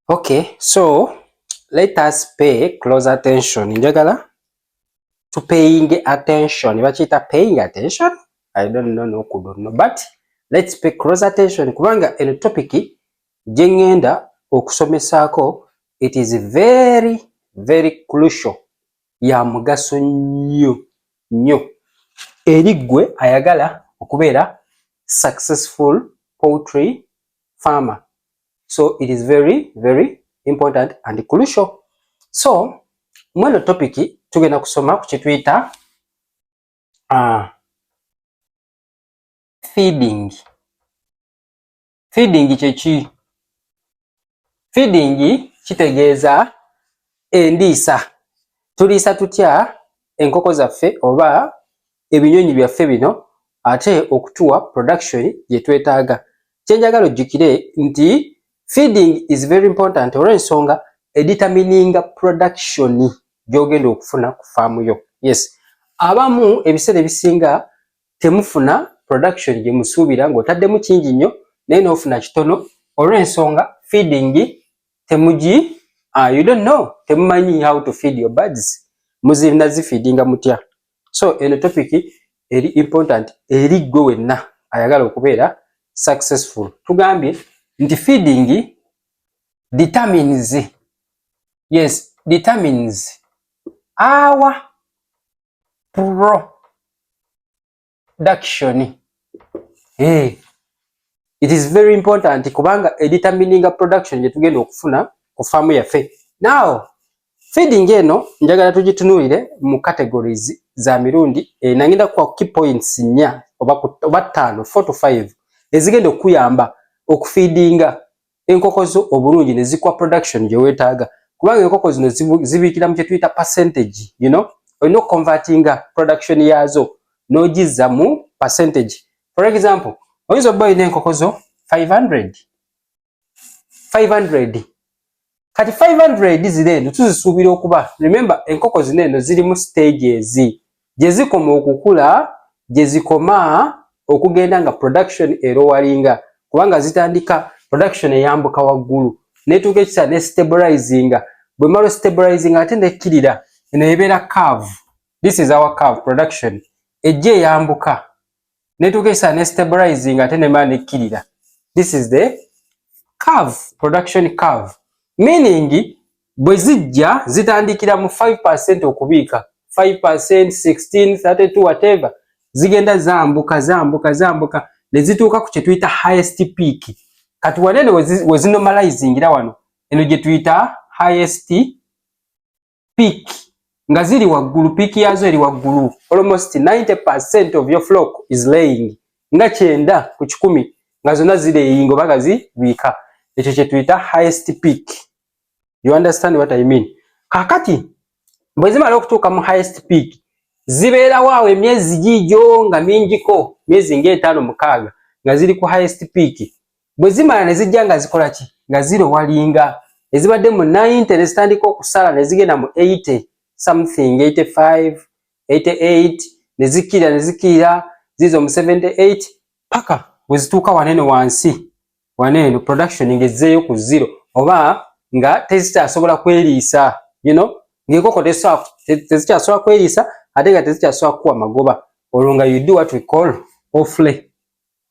Okay, so let us pay close attention. Njagala to paying attention. Bakiyita paying attention. I don't know no kudo no but let's pay close attention kubanga eno topic gye ngenda okusomesaako it is very very crucial ya mugaso nnyo nnyo eri ggwe ayagala okubeera successful poultry farmer so it is very very important and crucial so mweno topic tugenda kusoma ku kituyita uh, feeding feeding kyeki feeding kitegeeza endiisa tuliisa tutya enkoko zaffe oba ebinyonyi byaffe bino ate okutuwa production gyetwetaaga kyenjagala ojjukire nti feeding is very important olwensonga editamininga production gyogenda okufuna ku faamu yo yes abamu ebiseera ebisinga temufuna production gyemusuubira ng'otaddemu kingi nnyo naye n'ofuna kitono olwensonga feeding temugi uh, you don't know temumanyi how to feed your birds muzinazifiidinga mutya so eno topic eri important eri gwe wenna ayagala okubeera successful tugambye nti feeding determines yes determines our production hey. Eh, it is very important kubanga a determining production gyetugenda okufuna ku faamu yaffe now Feeding eno njagala tugitunulire mu categories za mirundi ena ngenda kwa key points nya oba oba ttaano 4 to 5 ezigenda okuyamba okufeedinga enkoko zo obulungi ne zikuwa production gye weetaaga kubanga enkoko zino zibiikira mu kye tuyita percentage you know olina okukonvatinga production yaazo n'ogizza mu percentage for example oyinza obba olina enkoko zo 500 500 kati 500 zino eno tuzisuubira okuba remember enkoko zino eno zirimu stages gye zikoma okukula gye zikoma okugenda nga production erowalinga kubanga zitandika production eyambuka waggulu netuuka ekisa ne stabilizinga bwe malo stabilizinga ate nekkirira eno ebeera cave this is our cave production ejja eyambuka netukesa ne stabilizing ate nema nekkirira this is the curve production curve meaning bwe zijja zitandikira mu 5% okubiika 5% 16 32 whatever zigenda zambuka zambuka zambuka ne zituuka ku kye tuyita highest peak kati wanene we zinormalizingira wano eno gye tuyita highest peak nga ziri waggulu peak yazo eri waggulu almost 90% of your flock is laying nga kyenda ku kikumi nga zonna zireyinga oba nga zibiika ekyo kye tuyita highest peak you understand what i mean kakati bwe zimala okutuuka mu highest peak zibeerawo awo emyezi giigyo nga mingiko myezi ng'etaano mukaaga nga ziri ku highest peak bwe zimala ne zijja nga zikola ki nga zirowalinga ezibadde mu 90 ne zitandika okusala ne zigenda mu 80 something 85 88 ne zikkirira ne zikkirira ziizo mu 78 paka bwe zituuka wanene wansi waneno production ng'ezzeeyo ku zero oba nga tezikyasobola kweriisa you know ng'enkoko tezikyasobola kweriisa ate nga tezikyasobola kukuwa magoba olwo nga you do what we call offlay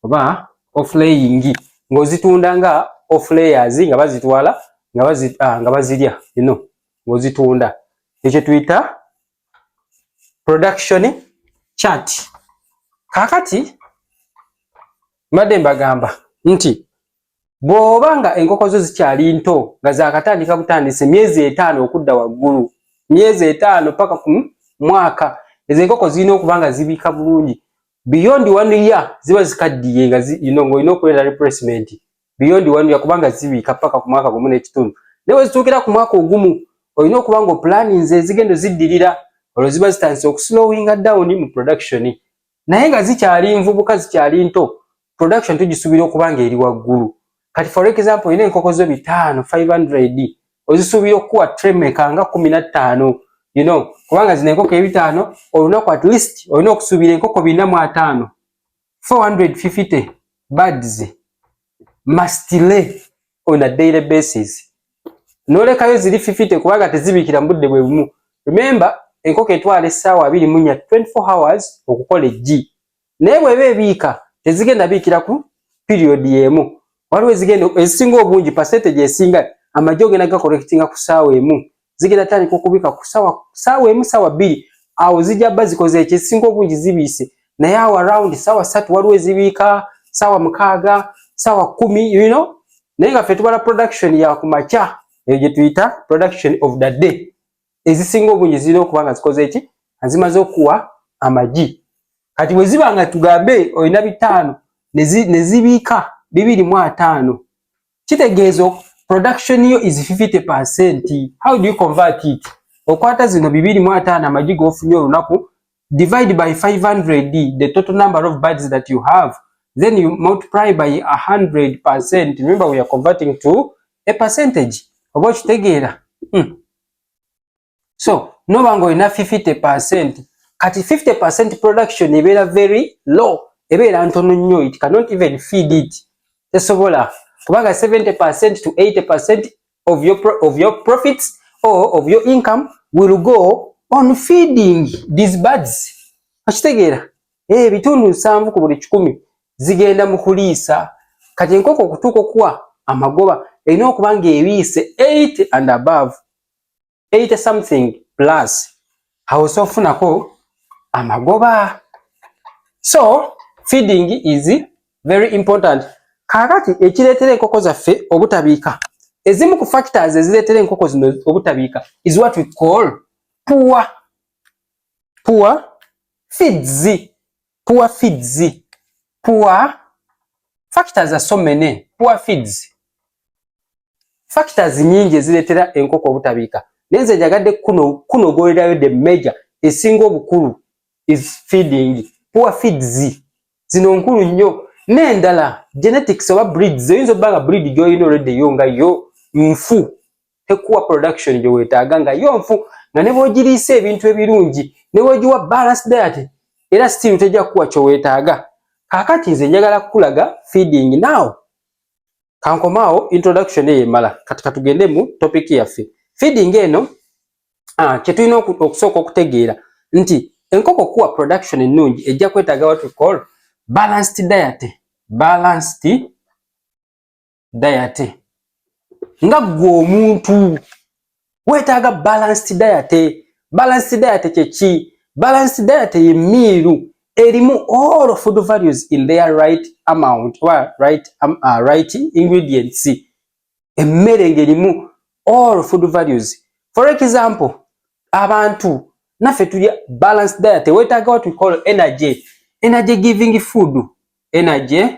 oba offlaying ng'ozitunda nga offlayers nga bazitwala nga bazi ah, nga bazirya you know ng'ozitunda ekyo tuyita production chart kakati mbadde mbagamba nti bw'oba nga enkoko zo zikyali nto nga zakatandika butandisi myezi etaano okudda waggulu myezi etaano paka ku mwaka ezo enkoko zirina okuba nga zibiika bulungi beyond one year ziba zikaddiye nga you know ng'olina okuleeta replacement beyond one year kubanga zibiika paka ku mwaka gumu n'ekitundu naye wezituukira ku mwaka ogumu olina okuba nga oplaninze ezigendo ziddirira olwo ziba zitandise okuslowinga down mu production naye nga zikyali nvubuka zikyali nto production tugisubira okuba nga eri waggulu kati for example olina enkoko zo bitaano 500 ozisuubira okukuwa tremeka nga kumi na ttaano you know kubanga zino enkoko ebitaano olunaku at least olina okusuubira enkoko bina mu ataano 450 birds must lay on a daily basis nolekayo ziri 50 kubanga tezibikira mubudde bwe bumu remember enkoko etwala essaawa abiri munya 24 hours okukola eggi naye bweba ebiika tezigenda biikira ku period emu waliwo ezigenda ezisinga obungi percentage esinga amagye ogenda gakolekitinga ku saawa emu zigenda tandika okubika ku sawa saawa emu saawa bbiri awo zijja ba zikoze ekyo ezisinga obungi zibiise naye awo around saawa satu waliwo ezibiika saawa mukaaga saawa kumi you know naye nga fe tubala production ya kumakya eyo gyetuyita production of the day ezisinga obungi zirina okuba nga zikoze eki nga zimaze okuwa amagi kati bwe ziba nga tugambe olina bitaano ne zibiika bibiri mu ataano kitegeeza production yo is 50 percent how do you convert it okwata zino bibiri mu ataano amagi g'ofunye olunaku divide by 500 the total number of birds that you have then you multiply by 100 percent remember we are converting to a percentage oba okitegeera hmm. so noba nga olina 50 percent kati 50 percent production ebeera very low ebeera ntono nnyo it cannot even feed it tesobola kubanga 70 percent to 80 percent of your, pro of your profits or of your income will go on feeding these birds akitegeera eh, ebitundu nsanvu ku buli kikumi zigenda mu kuliisa kati enkoko okutuuka okuwa amagoba erina okuba ng'ebiise 8 and above 80 something plus awo sofunako amagoba so feeding is very important kakati ekireetera enkoko zaffe obutabiika ezimu ku factors ezireetera enkoko zino obutabiika is what we call poor poor feeds poor feeds poor factors are so many poor feeds factors nyingi ezireetera enkoko obutabiika naye nze njagadde kunogolerayo the major esinga obukulu is feeding poor feeds zino nkulu nnyo n'endala genetics oba breeds oyinza obba nga breed gyolina olwedde yo nga yo nfu tekuwa production gye weetaaga nga yo nfu nga ne bw'ogiriisa ebintu ebirungi ne bw'ogiwa balance diet era still tejja kukuwa kye weetaaga kaakati nze njagala kukulaga feeding now kankomaawo introduction eyo emala kati katugende mu topic yaffe feeding eno ah, kye tulina okusooka okutegeera nti enkoko kuwa production ennungi ejja kwetaaga what we call balanced diet balanced dayate nga ggwe omuntu weetaaga balanced dayate balanced dayate kyeki balanced dayate ye miiru erimu all food values in their right amount oba right, um, uh, right ingredients emmere ng'erimu all food values for example abantu naffe tuli balanced dayate weetaaga what we call energy energy giving food energy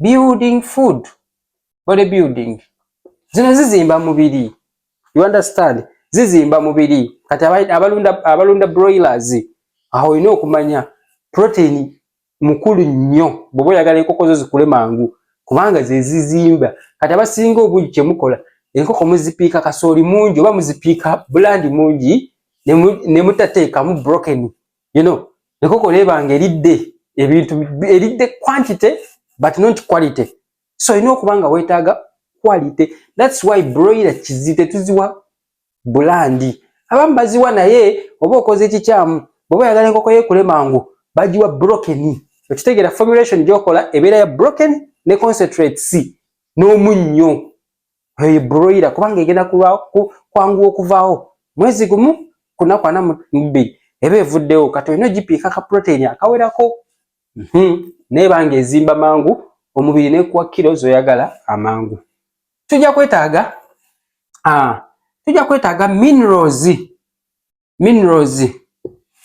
building food body building zino zizimba mubiri you understand zizimba mubiri kati abalunda abalunda broilers aho olina okumanya protein mukulu nnyo bwoba oyagala enkoko zo zikule mangu kubanga zezizimba kati abasinga obungi kyemukola enkoko muzipiika kasooli mungi oba muzipiika bulandi mungi nemutateekamu brokeni you know ekoko lebanga eridde ebintu eridde quantity but not quality so olina okuba nga weetaaga quality thats why broiler kizi tetuziwa bulandi abamu baziwa naye oba okoze ekikyamu bweoba oyagala enkoko yekule mangu bagiwa broken okitegeera formulation gyokola ebeera ya broken ne concentrate c n'omunnyo eyo broiler kubanga egenda kwanguwa okuvaawo mwezi gumu kunaku ana mubbiri eba evuddewo kati olina ogipiika ka protein akawerako mhm. naye banga ezimba mangu omubiri nekuwa kiro zoyagala amangu tujja kwetaaga ah, tujja kwetaaga minerals minerals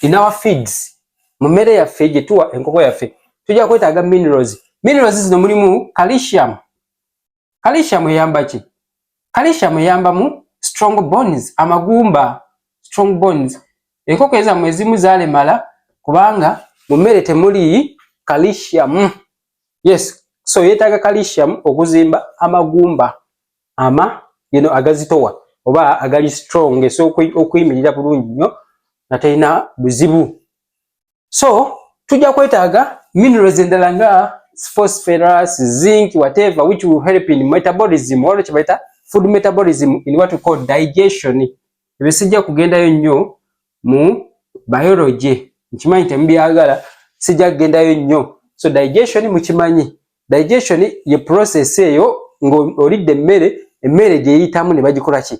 in our feeds mu mmere yaffe gyetuwa enkoko yaffe tujja kwetaaga minerals minerals zino mulimu calcium calcium eyamba ki calcium eyamba mu strong bones amagumba strong bones enkoko ezamu ezimu zalemala kubanga mu mmere temuli calcium yes so yetaaga calcium okuzimba amagumba ama you know, agazitowa oba agali strong esobola okuyimirira bulungi nnyo nga terina buzibu so tujja kwetaaga minerals endala nga phosphorus zinc whatever which will help in metabolism waliwo kyebayita food metabolism in what we call digestion ebyo sijja kugendayo nnyo mu biology nkimanyi temubyagala sijja kugendayo nnyo so digestion mukimanyi digestion ye process eyo ng'olidde emmere emmere gyeyitamu ne bagikolaki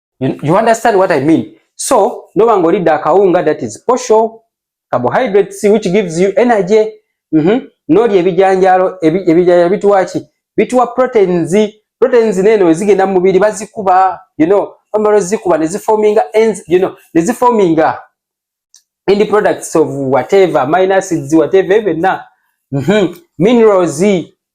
you, you understand what i mean so noba nga olidde akawunga that is posho carbohydrates which gives you energy mm -hmm. nolya ebijanjalo ebijanjalo bituwaki bituwa proteins proteins neno ezigenda mu mubiri bazikuba you know omalo zikuba ne ziforminga ends you know ne ziforminga end products of whatever amino acids whatever ebyo byonna mhm, minerals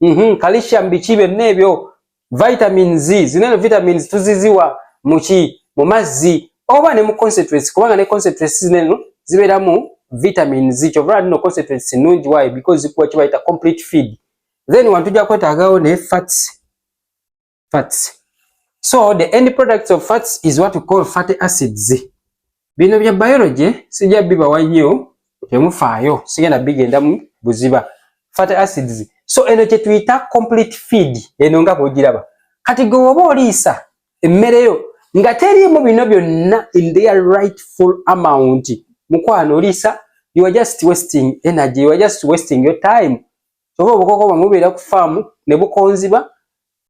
mhm, calcium biki byonna ebyo vitamins zino eno vitamins tuziziwa muki mu mazzi oba ne mu concentrates kubanga ne concentrates zino eno zibeeramu vitamins kyova lino concentrates nnungi wayo because zikuwa kye bayita complete feed then wantujja kwetaagawo ne fats fats so the end products of fats is what we call fatty acids bino bya biology sija bibawa nnyo temufaayo sigenda bigendamu buziba fatty acids so eno kyetuyita complete feed eno nga bwogiraba kati gwe woba oliisa emmere yo nga teriimu bino byonna in their rightful amount mukwano oliisa you are just wasting energy you are just wasting your time kyova obukoko bwamwe bubeera ku faamu ne bukonziba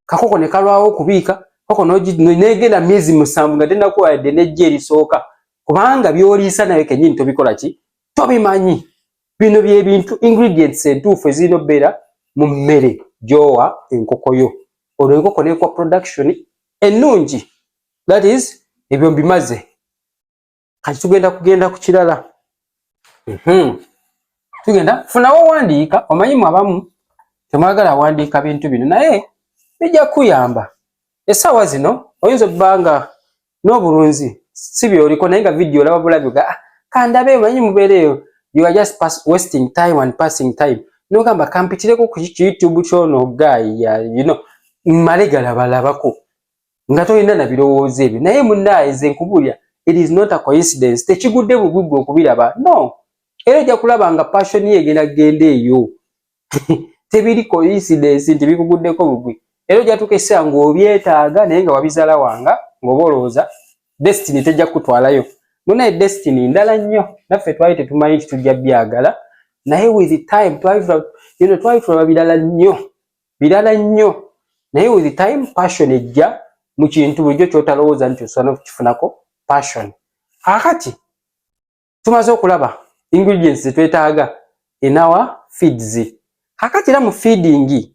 kakoko ne kalwawo okubiika koko negenda myezi musanvu nga tenakuwa yadde nejja erisooka kubanga byoliisa naye kenyini tobikola ki tobimanyi bino byebintu ingredients entuufu ezirina obeera mu mmere gyowa enkoko yo olwo enkoko nekuwa production ennungi that is ebyo mbimaze kati tugenda kugenda ku kirala mhm. tugenda funawo owandiika omanyimu abamu temwagala awandiika bintu bino naye bijja kuyamba esaawa zino oyinza okuba nga n'obulunzi si byoliko naye nga vidiyo olaba bulabi ga ah, kandabe omanyi mubeera eyo you are just pass, wasting time and passing time nogamba kampitireko ku youtube kyono guy you know mmale galabalabako nga tolina na birowoozo ebyo naye munaaye nze nkubulira it is not a coincidence tekigudde bugwi gwe okubiraba no era ojja kulaba nga passion ye egenda kugenda eyo tebiri coincidence nti bikuguddeko bugwi era ojja tuuka ekiseera ng'obyetaaga naye nga wabizala wanga ng'oba olowooza destiny tejja kukutwalayo munaye destiny ndala nnyo naffe twali tetumanyi nti tujja byagala naye with time twali twali tulaba birala nnyo birala nnyo naye with time passion ejja mu kintu bulijjo kyotalowooza nti osobola nokukifunako passion kakati tumaze okulaba ingredients zetwetaaga enawa feeds kakati era mu feeding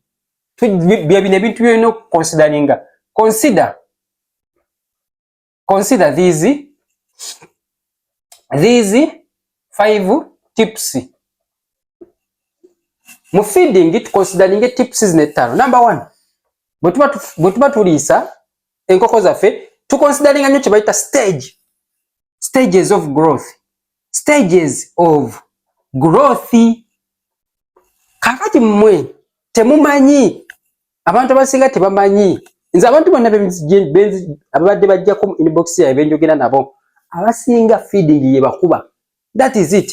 byebino ebintu byolina okuconsideringa consider consider these these five tips mu feeding tukonsideringe tips zino ettaano number one bwe tuba tuliisa enkoko zaffe tukonsideringa nnyo kye bayita stage stages of growth stages of growth kakati mmwe temumanyi abantu abasinga tebamanyi nze abantu bonna ababadde bajjako mu inbox yae benjogera nabo abasinga feeding yebakuba that is it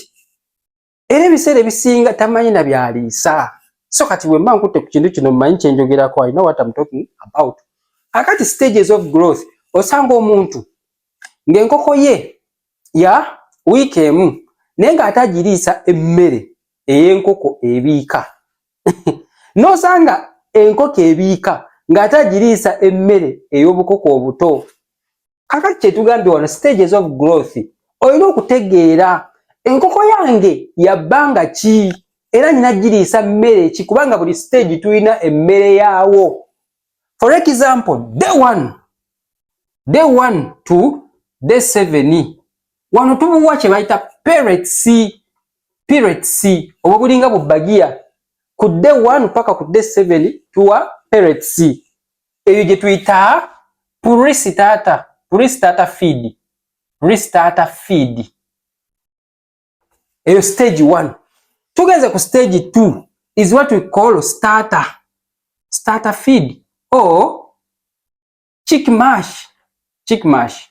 era ebiseera ebisinga tamanyi na byaliisa so kati bwe mba nkutte ku kintu kino mmanyi kyenjogerako i know what I'm talking about akati stages of growth osanga omuntu ng'enkoko ye ya wiiki emu naye ng'ate agiriisa emmere ey'enkoko ebiika n'osanga enkoko ebiika ng'ate agiriisa emmere ey'obukoko obuto kakati kyetugambye wano stages of growth olina okutegeera enkoko yange yabbanga ki era nina giriisa mmere ki kubanga buli stage tulina emmere yaawo for example day one day one to day seven wano tubuwa kye bayita parets pirates obwo bulinga bubagiya ku day 1 paka ku day 7 tuwa pirates eyo gye tuyita purisi tata purisi tata feed purisi tata feed eyo stage 1 tugenze ku stage 2 is what we call starter starter feed or chick mash chick mash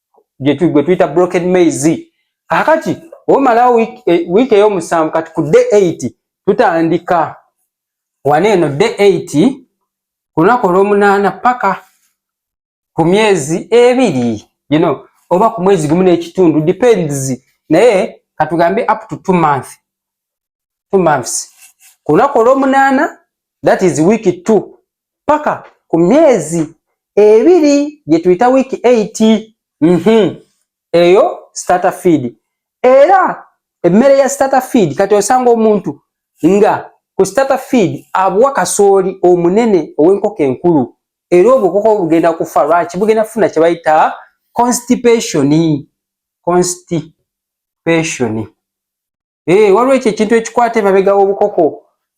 gwe tuyita broken maize kakati omalawo wiiki e, eyomusanvu kati ku day 8 tutandika wano eno day 8 ku lunaku olwomunaana paka ku myezi ebiri you know, oba ku mwezi gumu n'ekitundu depends naye katugambe up to two month two months ku lunaku olwomunaana that is week two paka ku myezi ebiri gyetuyita week 8 mm -hmm. eyo starter feed era emmere ya starter feed kati osanga omuntu nga ku starter feed abuwa kasooli omunene ow'enkoko enkulu era obwo koko bugenda kufa lwaki bugenda kufuna kye bayita constipation constipation eh waliwo ekyo ekintu ekikwata emabega w'obukoko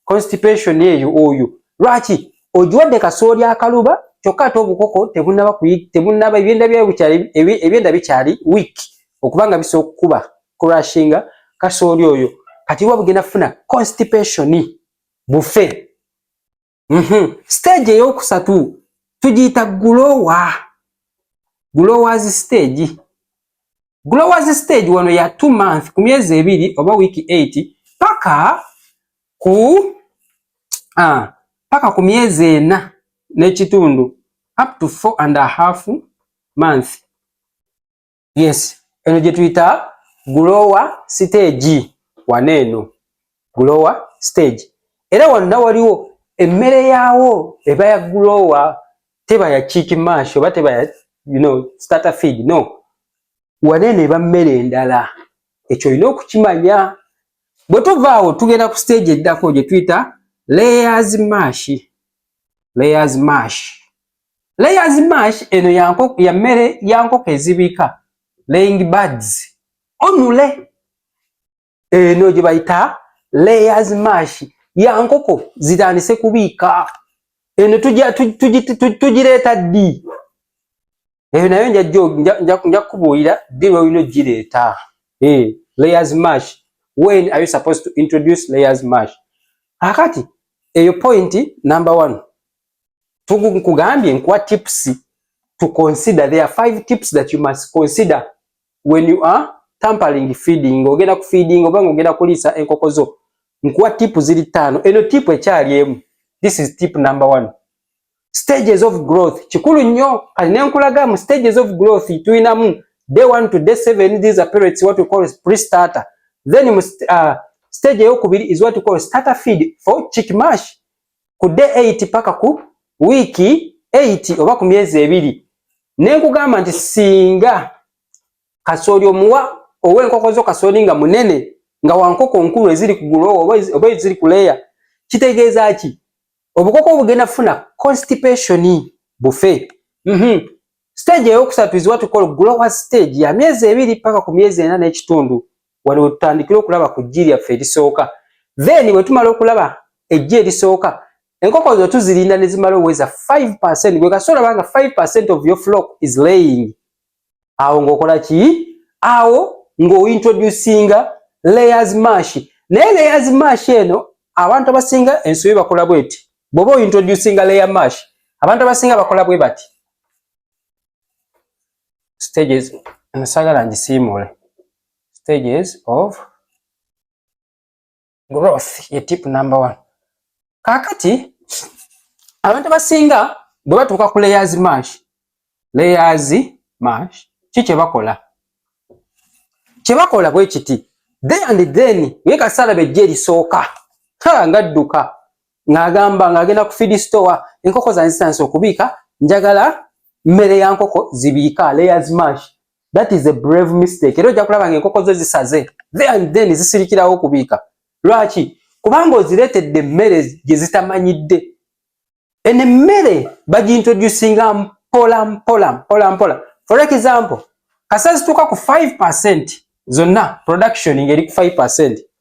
constipation eyo oyo lwaki ogiwadde kasooli akaluba kyokka ate obukoko tebunaba tebunaba ebyenda byayo bukyali ebyenda bikyali week okuba nga bisobola okukuba crashinga kasooli oyo kati wa bugenda kufuna constipation bufe Mhm. Stage eyokusatu tugiyita gulowa. Gulowazi stage. Gulowazi stage wano ya two month ku myezi ebiri oba wiki 8 paka ku ah, paka ku myezi ena n'ekitundu up to four and a half month. yes eno gye tuyita gulowa siteegi wano eno gulowa siteegi era wonna waliwo emmere yaawo eba ya gulowa teba ya kiiki maashi oba teba ya you know, starter feed no wano eno eba mmere endala ekyo olina okukimanya bwe tuvaawo tugenda ku siteegi eddako gye tuyita layers mashi layers mashi Layers mash eno ya nkoko ya mmere ya nkoko ezibika laying birds onule eno gye bayita layers mash ya nkoko zitandise kubiika eno tugireeta ddi eyo nayo nja kubuulira ddi lwolina ogireeta eh, layers mash when are you supposed to introduce layers mash akati eyo point number one nkugambye nkuwa tips to consider there are five tips that you must consider when you are tampering feeding ogenda ku feeding oba ngogenda kulisa enkoko zo nkuwa tip ziri tano eno tip ekyali emu this is tip number one stages of growth kikulu nnyo kati nenkulaga mu stages of growth tulinamu day one to day seven these are periods what we call pre starter then uh, stage eyokubiri is what we call starter feed for chick mash ku day 8 paka ku wiiki 8 oba ku myezi ebiri ne nkugamba nti singa kasooli omuwa ow'enkoko zo kasooli nga munene nga wankoko nkulu eziri ku gulo oba eziri ku leya kitegeeza ki obukoko obugenda funa constipation bufe mm -hmm. Stage eyokusatu is what we call grower stage ya myezi ebiri paka ku myezi ena n'ekitundu wano wetutandikira okulaba ku jji lyaffe erisooka then bwetumala okulaba ejji erisooka enkoko zo tuzirinda nezimala oweza 5 gwe kasoola banga 5 of your flock is laying awo ng'okola ki awo ng'ointroducinga layers mash naye layers mash eno abantu abasinga ensobi bakola bweti bwoba ointroducinga layer mash abantu abasinga bakola bwe bati stages nsagala ngisiimuule stages of growth ye tip number one kaakati abantu abasinga bwe batuuka ku layers mash layers mash ki kye bakola kye bakola bwe kiti then and then ye kasaala bejja erisooka ha nga dduka ng'agamba ng'agenda ku feed store enkoko zange zitandise okubiika njagala mmere ya nkoko zibiika layers mash that is a brave mistake era ojja kulaba ng'enkoko zo zisaze there and then zisirikirawo okubiika lwaki kubanga ozireetedde emmere gye zitamanyidde eno emmere bagintroducinga mpola mpola mpola mpola for example kasa zituuka ku 5 percent zonna production ng'eri ku 5 percent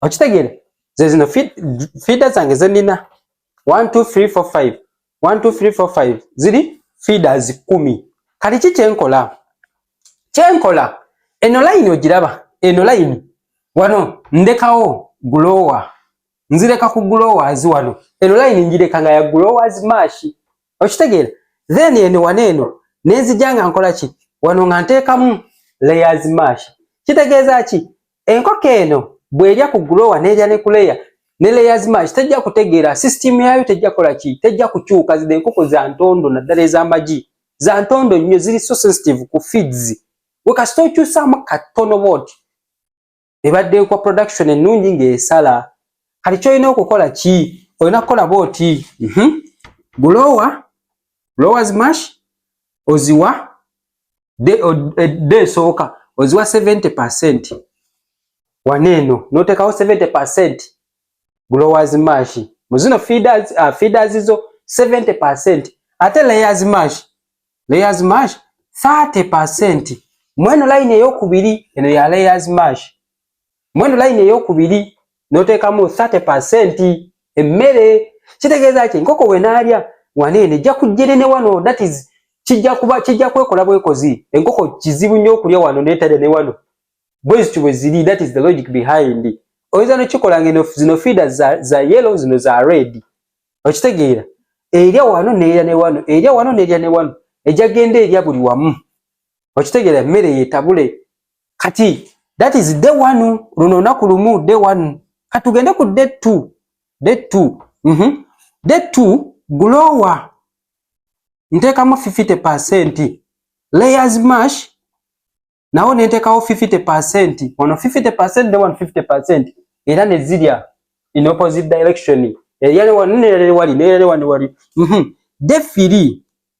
okitegeera ze zino fiida zange zenina 12345 12345 ziri fiida zi kumi kati ki kyenkola kyenkola eno layini ogiraba eno layini wano ndekawo gulowa nzireka ku gulowazi wano eno layini njireka nga ya gulowazi maashi okitegeera then eno wano eno nenzija nga nkola ki wano nga nteekamu layers maashi kitegeeza ki Enkoko eno bw'erya ku grower n'erya ne ku layer ne layers mash tejja kutegeera system yaayo tejja kola ki tejja kukyuka zino enkoko za ntondo naddala ez'amagi za ntondo nnyo ziri so sensitive ku feeds we kasita okyusaamu katono bwoti ebadde kwa production ennungi ng'esala kati kyolina okukola ki olina kukola bwoti mhm. gulowa lowers mash oziwa edda esooka oziwa 70 percent wane eno notekawo 70 percent growers mash muzino feeders, uh, feeders zo 70 percent ate layers mash layers mash 30 percent mweno line eyokubiri eno ya layers mash mweno layini eyokubiri noteekamu 30 percent emmere kitegeeza ki enkoko wenaalya waneeno ejja kujjere ne wano that is kijja kuba kijja kwekola bwekozi enkoko kizibu nnyo okulya wano netalya ne wano bwezityo bwe ziri that is the logic behind oyinza nokikola ngeno zino fiida za, za yellow zino za red okitegeera erya wano neerya ne wano erya wano neerya ne wano ejja genda erya buli wamu okitegera emmere yetabule kati that is day one luno olunaku lumu day one katugende ku day two day two mm -hmm. day two glowa ntekamu 50 percent layers mash nawo nentekawo 50 percent ono 50 percent day one 50 percent era nezirya in opposite direction eyali wano neyali wali neyali wano wali mm -hmm. day three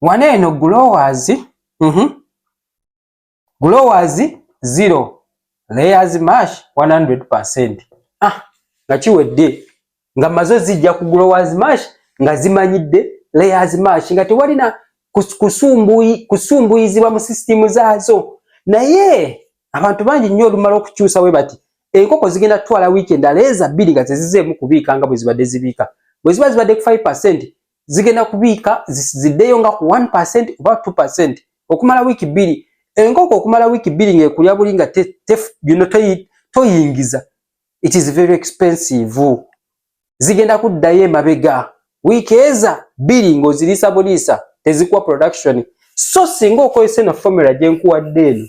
wano eno glowers mm -hmm. glowers zero layers mash 100 ah nga kiwedde nga mazo zijja ku glowers mash nga zimanyidde layers mash nga tewalina kusumbuyi kusumbuyizibwa mu system zaazo naye abantu bangi nnyo olumala okukyusa we bati enkoko zigenda kutwala wiiki endala eza bbiri nga tezizeemu kubiika nga bwe zibadde zibiika bwe ziba zibadde ku 5 zigenda kubiika ziddeyo nga ku 1% oba 2% okumala wiiki bbiri enkoko okumala wiiki bbiri ng'ekulya buli nga bino toyingiza it is very expensive zigenda kuddayo emabega wiiki eza bbiri ng'oziriisa buliisa tezikuwa production so singa okozesa eno formula gye nkuwadde eno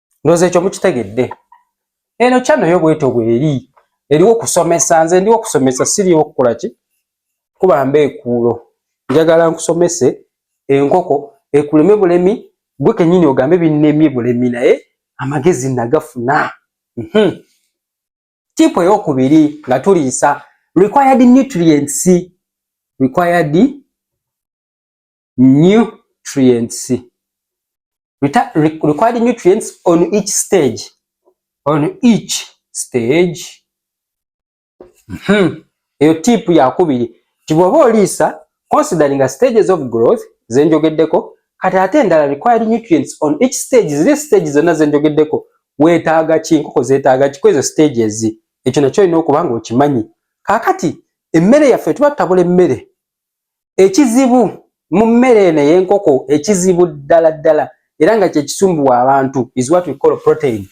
ndoza ekyo mukitegedde eno channel yo bweto bweri eriwo kusomesa nze ndiwo kusomesa siriwo kukola ki kuba mbe ekuulo njagala nkusomese enkoko ekuleme bulemi gwe kenyini ogambe binnemye bulemi naye amagezi nagafuna mhm tipu eyokubiri nga tuliisa required nutrients required nutrients Reta required nutrients on each stage on each stage mm -hmm. eyo tipu yakubiri ti bwoba oliisa considering a stages of growth zenjogeddeko kati ate endala required nutrients on each stage ziri stage zonna zenjogeddeko wetaaga ki nkoko zetaaga ki kwezo stages ekyo nakyo olina okuba nga okimanyi kakati emmere yaffe tuba tutabula emmere Ekizibu mu mmere eno ey'enkoko ekizibu ddala ddala era nga kye kisumbuwa abantu is what we call protein.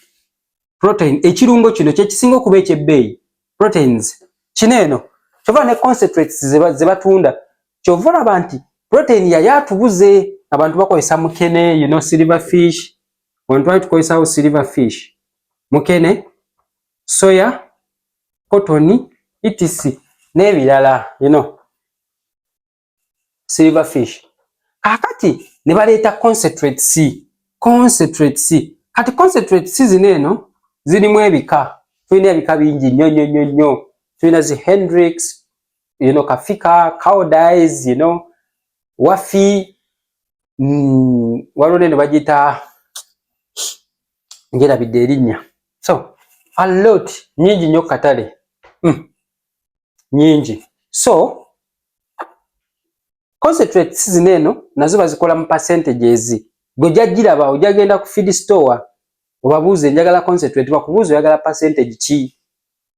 Protein ekirungo kino kye kisinga okuba eky'ebbeeyi proteins kino eno kyova ne concentrates ze batunda kyova olaba nti protein yali atubuze abantu bakozesa mukene you know silver fish abantu bali tukozesawo silver fish mukene soya cotton etc n'ebirala you know silver fish kakati ne baleeta concentrate c concentrate c kati concentrate c zino eno zirimu ebika tulina ebika bingi nnyo nnyo nnyo nnyo tulina zi hendrix you know kafika cowdies you know wafi mm, waliwo neno bagiyita njerabidde erinnya so a lot nyingi nnyo katale mm. nyingi so concentrates zino eno nazo bazikola mu percentages gwe jajjiraba ojagenda ku feed store obabuuze njagala concentrate bakubuuza oyagala percentage ki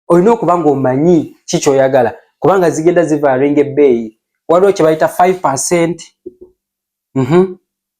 olina okuba ng'omanyi ki kyoyagala kubanga zigenda zivaaringa ebbeeyi waliwo kye bayita 5 percent mm -hmm.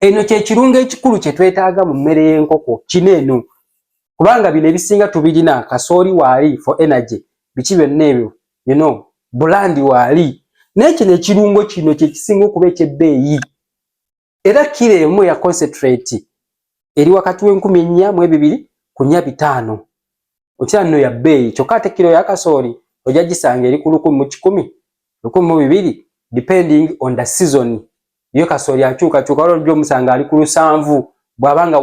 Eno kye kirungo ekikulu kye twetaaga mu mmere y'enkoko kino eno kubanga bino ebisinga tubirina kasooli waali for energy biki byonna ebyo you know bulandi waali naye kino ekirungo kino kye kisinga okuba eky'ebbeeyi era kiro emu ya concentrate eri wakati w'enkumi ennya mu ebibiri ku nnya bitaano okira nno ya bbeeyi kyokka ate kiro ya kasooli ojja gisanga eri ku lukumi mu kikumi lukumi mu bibiri depending on the season ye kasooli akyukakyuka wala ojja omusanga ali ku lusanvu bw'aba nga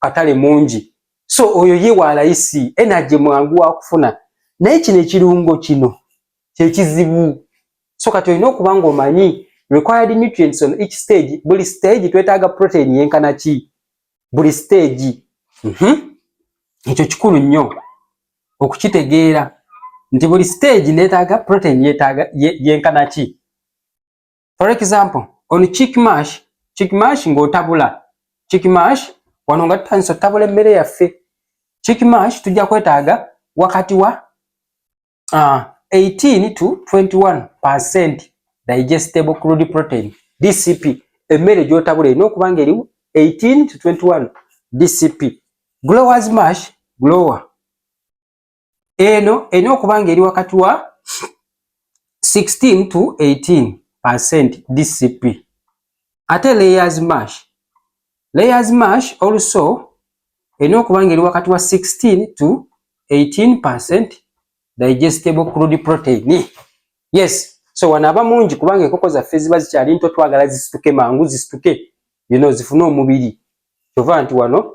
katale mungi so oyo ye wa layisi enaje mwangu wa kufuna naye kino ekirungo kino kyekizibu so kati olina okuba nga omanyi required nutrients on each stage buli stage twetaaga protein yenkana ki buli stage mhm. ekyo kikulu nnyo okukitegeera nti buli stage netaaga protein yenkana ki for example on chick mash chick mash ng'otabula chick mash wano nga tutandisa otabula emmere yaffe chick mash tujja kwetaaga wakati wa uh, ah, 18 to 21 percent digestible crude protein dcp emmere gyotabula erina okuba nga eriwo 18 to 21 dcp growers mash grower eno erina okuba nga eri wakati wa 16 to 18 percent dcp ate layers mash layers mash also erina okuba nga eri wakati wa 16 to 18 percent digestible crude protein yes so wano aba mungi kubanga enkoko zaffe ziba zikyali nto twagala zisituke mangu zisituke you know, zifune omubiri kyova nti wano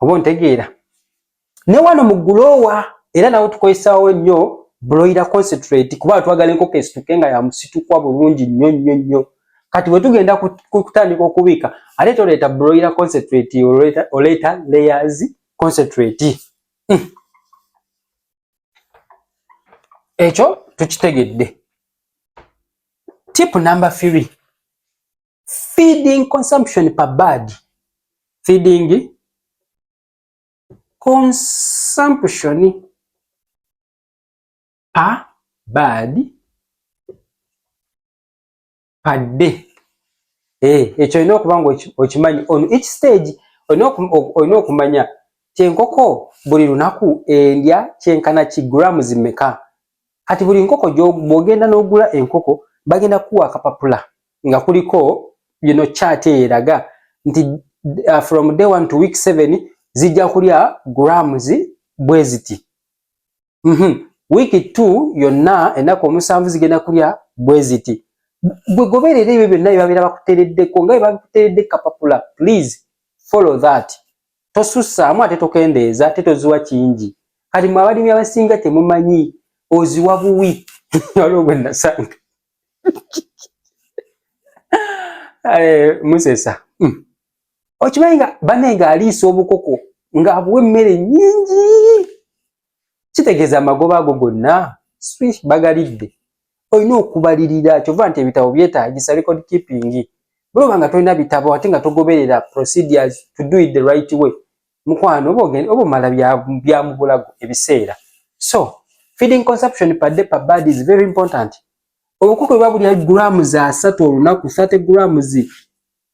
oba ontegeera ne wano mu guloowa era nawo tukozesaawo nnyo buloira concentrate kuba twagala enkoko esituke nga yamusitukwa bulungi nnyo nnyo nnyo kati bwe tugenda kutandika okubiika ate toleeta buloira concentrate oleeta layers concentrate hmm. ekyo tukitegedde tip number three feeding consumption per bird feeding consumption per bird per day eh ekyo olina okuba nga okimanyi on each stage olina okumanya kyenkoko buli lunaku endya kyenkana ki grams meka kati buli nkoko bwogenda n'ogula enkoko bagenda kuwa akapapula nga kuliko yino chart eraga nti uh, from day 1 to week 7 zijja kulya grams bweziti mm -hmm. week 2 yonna ennaku omusanvu zigenda kulya bweziti gwe goberera ebyo byonna byebabeera bakutereddeko nga byebakuteredde kapapula please follow that tosussaamu ate tokendeeza ate toziwa kingi kati mwe abalimi abasinga temumanyi oziwa buwi waliwo gwe nasanga Eh, musesa hmm. okimanyi nga bane nga aliisa obukoko nga abuwa emmere nyingi kitegeeza amagoba ago gonna swish bagalidde olina okubalirira kyova nti ebitabo byetagisa record keeping bweoba nga tolina bitabo ate nga togoberera procedures to do it the right way mukwano oba ogenda oba omala bya mubulago ebiseera so feeding consumption per day per bad is very important obukuku bwe babulya gulaamu za asatu olunaku 30 gulaamu zi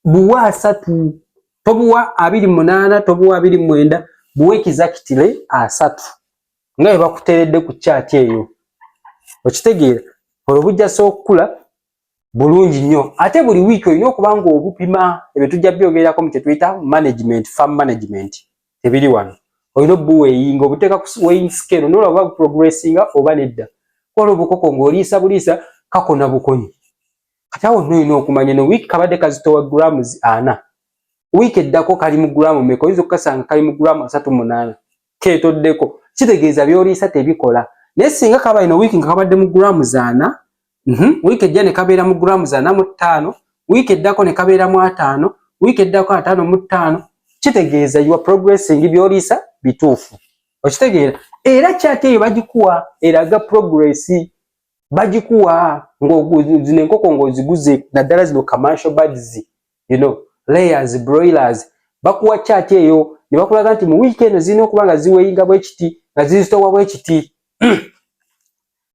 buwa asatu tobuwa abiri munaana tobuwa abiri mwenda buwa ekizakitire asatu nga bwe bakuteredde ku kyati eyo okitegeera olwo bujjasa okukula bulungi nnyo ate buli wiiki olina okuba nga obupima ebyo tujja byogererako mu kyetuyita management farm management tebiri wano olina obuweyinga obuteeka ku weighing scale nola oba progressinga oba nedda kola obukoko ng'oliisa buliisa kakona bukonyi kati awo nno olina okumanya no wiiki kabadde kazitowa grams ana wiiki eddako kali mu gulamu meka oyinza okukasanga kali mu gulamu asatu munaana ketoddeko kitegeeza byoliisa tebikola naye singa kabaino wiiki nga kabadde mu gulamu zaana mm -hmm. wiiki ejja ne kabeera mu grams ana mu ttaano wiiki eddako ne kabeera mu ataano wiiki eddako ataano mu ttaano kitegeeza you are progressing byoliisa bituufu okitegeera era kyati eyo bagikuwa eraga progress bagikuwa ng'ozino enkoko ng'oziguze naddala zino commercial birds you know layers broilers bakuwa kyati eyo ne bakulaga nti mu wiiki eno zirina okuba nga ziweyinga bwekiti nga zizitowa bwekiti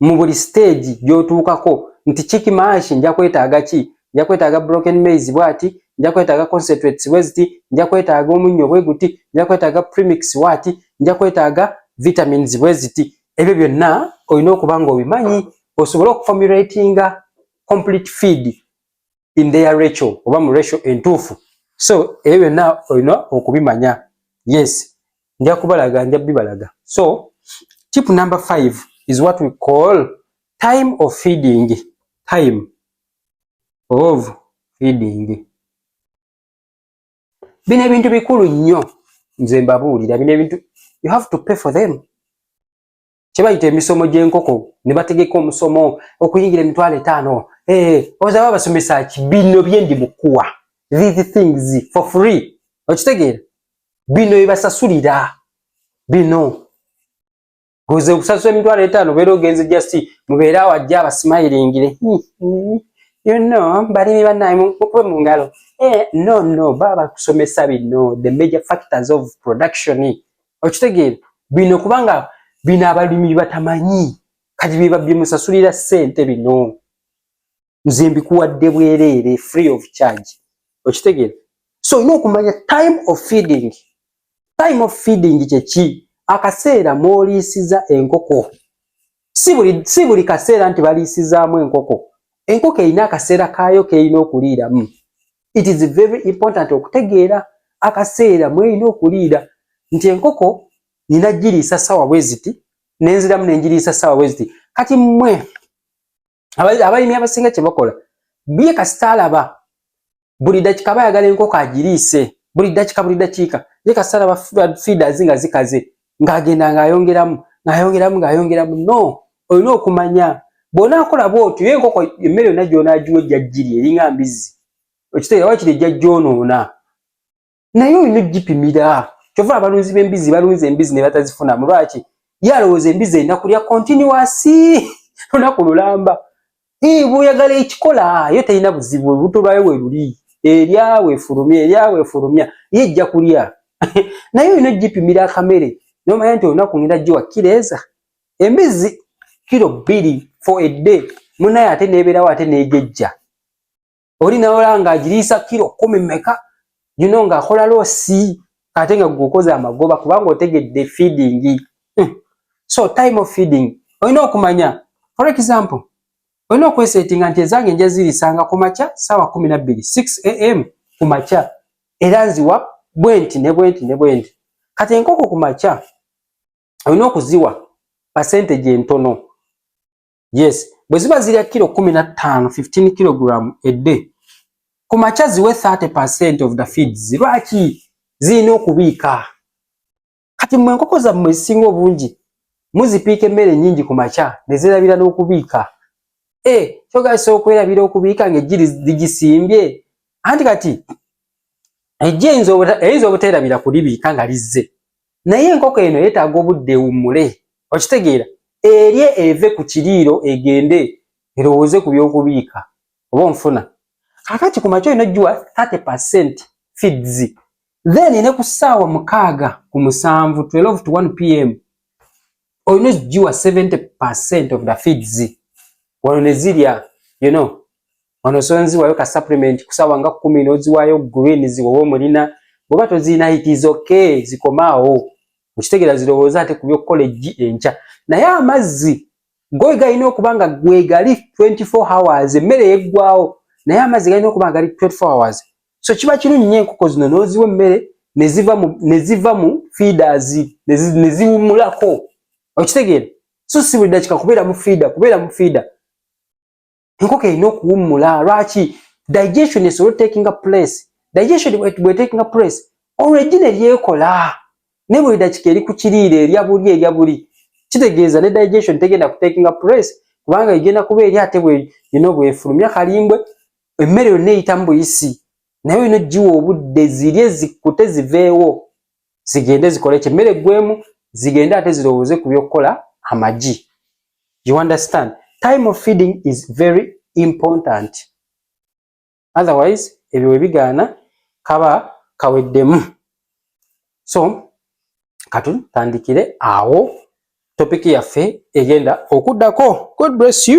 mu buli stage gyotuukako nti kiki maashi nja kwetaaga ki nja kwetaaga broken maize bwati nja kwetaaga concentrates bweziti nja kwetaaga omunnyo bwe guti nja kwetaaga premix waati nja kwetaaga vitamins bweziti ebyo byonna olina okuba nga obimanyi osobole okufomulatinga complete feed in their ratio oba mu ratio entuufu so ebyo byonna olina okubimanya yes nja kubalaga nja bibalaga so tip number five is what we call time of feeding time of feeding bino ebintu bikulu nnyo nze mbabuulira bino ebintu you have to pay for them kyebayita emisomo gy'enkoko ne bategeka omusomo okuyingira emitwalo etaano ee eh, ozaba abasomesa ki bino bye ndi mukuwa these things for free okitegeera bino byebasasulira bino goze okusasula emitwalo etaano obeera ogenze just mubeere awo ajja abasimayilingire hmm, hmm. you know balimi banaye mukube mu ngalo eh, no no baba bakusomesa bino the major factors of production okitegeera bino kubanga bino abalimi batamanyi kati byebabyemusasulira ssente bino nze mbikuwadde bwereere free of charge okitegeera so olina okumanya time of feeding time of feeding kyeki akaseera mwoliisiza enkoko si buli si buli kaseera nti baliisizaamu enkoko enkoko erina akaseera kaayo keerina okuliiramu it is very important okutegeera akaseera mwerina okuliira nti enkoko nina giriisa sawa bweziti nenziramu nengiriisa sawa bweziti kati mwe abalimi abasinga kye bakola bye kasita alaba buli dakika bayagala enkoko agiriise buli dakika buli dakiika ye kasita alaba feeders nga zikaze ng'agenda ng'ayongeramu ng'ayongeramu ng'ayongeramu no olina okumanya bw'onaakola bw'otyo ye enkoko emmere yonna gy'onaagiwa ejja giri eringa mbizzi okitegeera wakiri ejja gyonoona naye olina ogipimira kyova abalunzi b'embizi balunza embizi ne batazifunamu lwaki ye alowooza embizi erina kulya kontinuwasi lunaku lulamba bwoyagala ekikola yo terina buzibu olubuto lwayo we luli eryawe efulumya eryawe efulumya ye ejja kulya naye olina ogipimira akamere nomanya nti olunaku ngenda giwa kireeza embizi kiro bbiri for a day munaye ate nebeerawo ate negejja oli nawola nga agiriisa kiro kumi meka you know nga akola loosi ate nga gukoze amagoba kubanga otegedde feeding hmm. so time of feeding olina okumanya for example olina okwesetinga nti ezange nja zirisanga ku makya saawa kumi nabbiri 6 am ku makya era nziwa bwenti ne bwenti ne bwenti kati enkoko ku makya olina okuziwa percentage entono yes bwe ziba zirya kilo kumi na ttaano 15 kilogram edde ku makya ziwe 30 percent of the feeds lwaki zirina okubiika kati mwe enkoko zammwe ezisinga obungi muzipiika emmere nyingi ku makya ne zerabira n'okubiika e eh, kyogasa okwerabira okubiika ng'ejjiri ligisimbye anti kati ejja eyinza obuteerabira kulibiika nga lizze naye enkoko eno yetaaga obudde ewummule okitegeera erye eve ku kiriiro egende erowooze ku by'okubiika oba onfuna kakati ku makya olina ogiwa 30 percent feeds then ne ku ssaawa mukaaga ku musanvu 12 to 1 pm olina ogiwa 70 of the feeds wano ne zirya you know wano osobola nziwayo ka supplement kusawa nga kumi noziwayo green ziwoba omulina bwoba tozirina it is okay zikomaawo okitegeera zirowooza ate kubyokukola eggi enkya naye amazzi goy galina okuba nga gwegali 24 hours emmere yeggwawo naye amazzi galina okuba nga gali 24 hours so kiba kirungi nyo enkoko zino noziwa emmere neziva mu neziva mu feeders neziwumulako okitegeera so si buli dakika kubeera mu fiida kubeera mu fiida enkoko erina okuwummula lwaki digestion esobola otakinga place digestion bwetakinga place olwo eggi ne lyekola naye buli dakika eri ku kiriira erya buli erya buli kitegeeza ne digestion tegenda kutakinga place kubanga egenda kuba eri ate bweyina obwefulumya kalimbwe emmere yonna eyitamu buyisi naye olina ogiwa obudde zirye zikkute ziveewo zigende zikole ekyo emmere eggwemu zigende ate zirowooze ku by'okukola amagi you understand time of feeding is very important otherwise ebyo we bigaana kaba kaweddemu so katutandikire awo topiki yaffe egenda okuddako god bless you